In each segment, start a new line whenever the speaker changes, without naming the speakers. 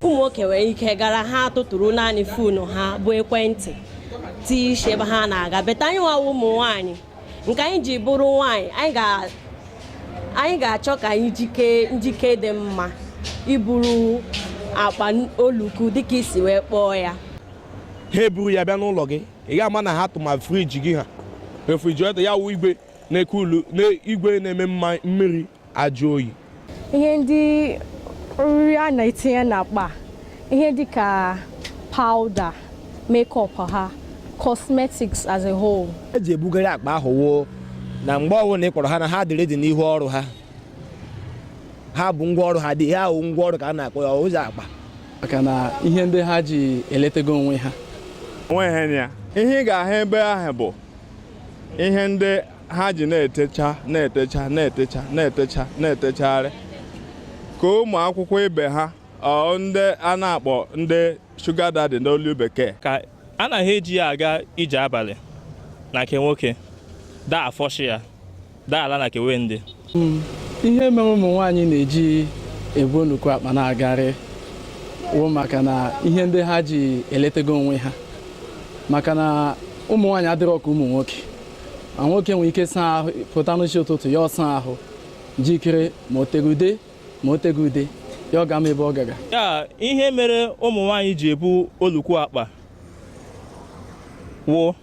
ụmụ nwoke nwere ike gara ha atụtụrụ naanị foonu ha bụ ekwentị tii isi ebe ha na-aga but anyị nwa wụ ụmụ nwaanyị nke anyị ji bụrụ nwaanyị anyị ga-achọ ka anyị jikee njike dị mma iburu akpa oluku dịka i si wee kpọọ ya ha
eburu ya bịa n'ụlọ gị ị ga-ama na ha tụma friji gị ha refrigerator ya wụ igwe na-eku igwe na-eme mma mmiri ajụ oyi ihe
ndị nri a na-etinye n'akpa ihe dị ka powder makeup ha cosmetics as a whole e ji ebugharị akpa
ahụ wụ na mgbe ọbụla ị kpọrọ ha na ha dị ready n'ihu ọrụ ha ha bu ngwa ọrụ ha dị ha ahụ ngwa ọrụ ka a na-akpọ ya ụzọ akpa maka
na ihe ndị ha ji eletego onwe ha o nweghị ya
ihe ị ga-ahụ ebe ahụ bụ ihe ndị ha ji na-etecha na-etecha na-etecha na-etecha na-etechagharị ka ụmụ akwụkwọ ibe ha or ndị a na-akpọ ndị sugar daddy n'olu bekee ka ana
ha eji ya aga ije abalị na nke nwoke daa afọ shi ya daa ala na kewe ndị
ihe mere ụmụ nwaanyị na-eji ebu nnukwu akpa na-agarị wụ maka na ihe ndị ha ji eletego onwe ha maka na ụmụ nwaanyị adịrọ ka ụmụ nwoke ma nwoke nwere ike saa ahụ pụta n'isi ụtụtụ ya asaa ahụ jikere ma o teghị ude ma o teghị ude ya agama ebe ọ ga-aga ya ihe mere
ụmụ nwaanyị ji ebu olukwu akpa wụ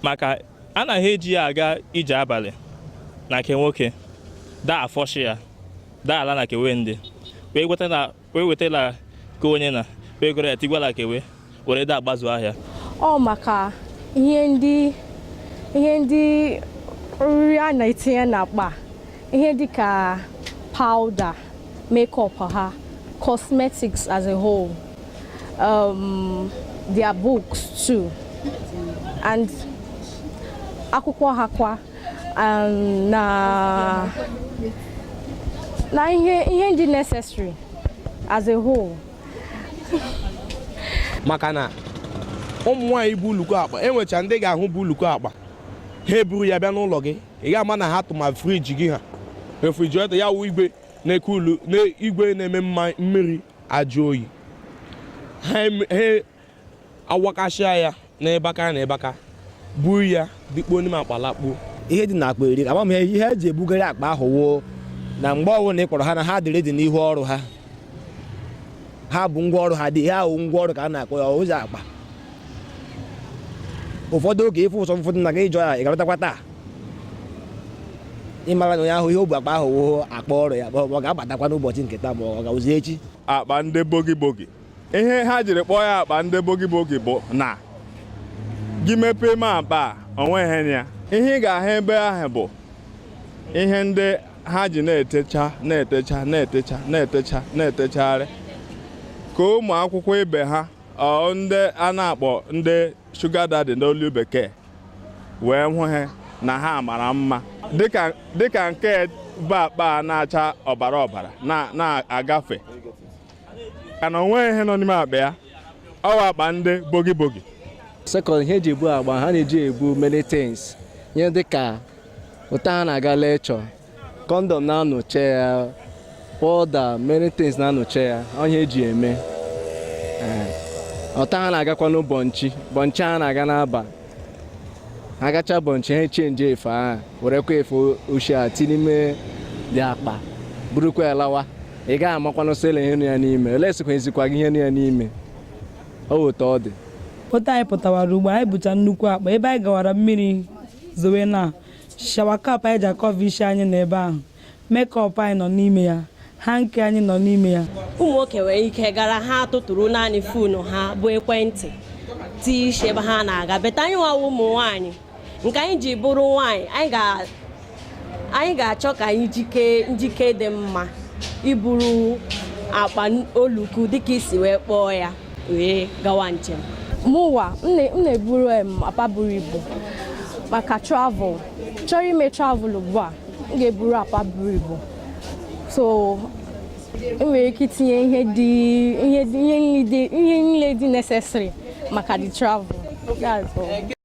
maka ana ha eji ya aga ije abalị na nke nwoke daa afọ shi ya daa ala na kewe ndị wee wetala ka onye na wee goro ya tigwala ka wee were da agbazu ahịa ọ
maka ihe ndị nri a na-etinye n'akpa ihe dịka powder makeup ha cosmetics as a whole um, their books too and akwụkwọ ha kwa um, na na ihe ihe ndị necessary as a whole
maka na ụmụ nwaanyị bu oluku akpa e nwecha ndị ị ga-ahụ bu oluku akpa ha eburu ya bịa n'ụlọ gị ị ga-ama na ha tụma friji gị ha refrigerator ya wụ igwe na-eke ulu na igwe na-eme mma mmiri ajụ oyi ha em- ha awakasịa ya n'ebe aka na ebe aka buru ya bikpuo n'ime akpa lakpuo ihe dị n'akpa
eri agba m ihe eji ebugharị akpa ahụ wụ na mgbe ọwụna ị kpọrọ ha na ha dị ready n'ihu ọrụ ha ha bu ngwa ọrụ ha dị ihe ahụ ngwa ọrụ ka a na-akpọ ya ụzọ akpa ụfọdụ oge ị fụ ụsọ ụfọdụ na gị jụọ ya ị ga-alọtakwa taa ị mara na onye ahụ ihe o bu akpa ahụ wụ akpa ọrụ ya ọ ga-abatakwa n'ụbọchị nke taa ma ọ ga-awụzi echi akpa ndị bogi
bogi ihe ha jiri kpọọ ya akpa ndị bogi bogi bụ na gị mepee ime akpa a onweghị na ya ihe ị ga-ahụ ebe ahụ bụ ihe ndị ha ji na-etecha na-etecha na-etecha na-etecha na-etechagharị ka ụmụ akwụkwọ ibe ha ndị a na-akpọ ndị sugar daddy n'olu bekee wee hụ ha na ha mara mma dịka nke bu akpa na-acha ọbara ọbara na-agafe ka na onweghị ihe nọ n'ime akpa ya ọ wụ akpa ndị bogi bogi second
ihe eji ebu akpa ha na-eji ebu many things ihe dịka ụta ha na-aga lecture condom na-anọche ya powder many things na-anọche ya ihe eji eme ụta ha na-agakwanụ bọnchi bọnchi ha na-aga n'aba ha gacha bọnchi ha echenjie efe ahụ werekwa efe ochie a tinye n'ime the akpa burukwa ya lawa ị gaghị amakwanụ sị lee ihe nọ ya n'ime unless ezikwa ezikwa gị ihe nọ ya n'ime ọ wụ otu ọ dị otu anyị pụtawara
ugbu a anyị bucha nnukwu akpa ebe anyị gawara mmiri zowe na shower cap anyị ji akọva isi anyị nọ ebe ahụ makeup anyị nọ n'ime ya hanky anyị nọ n'ime ya ụmụ nwoke nwere
ike gara ha atụtụrụ naanị foonu ha bụ ekwentị tii isi ebe ha na-aga but anyịnwa wụ ụmụ nwaanyị nke anyị ji bụrụ nwaanyị anyị ga-achọ ka anyị jike njike dị mma iburu akpa olukwu dịka e si wee kpọọ ya wee gawa njem mụwa
m na-eburu akpa buru ibu maka travel chọrọ ime travel ugbu a m ga-eburu akpa buru ibu so m nwere ike itinye ihe dị ihe niile dị necessary maka the travel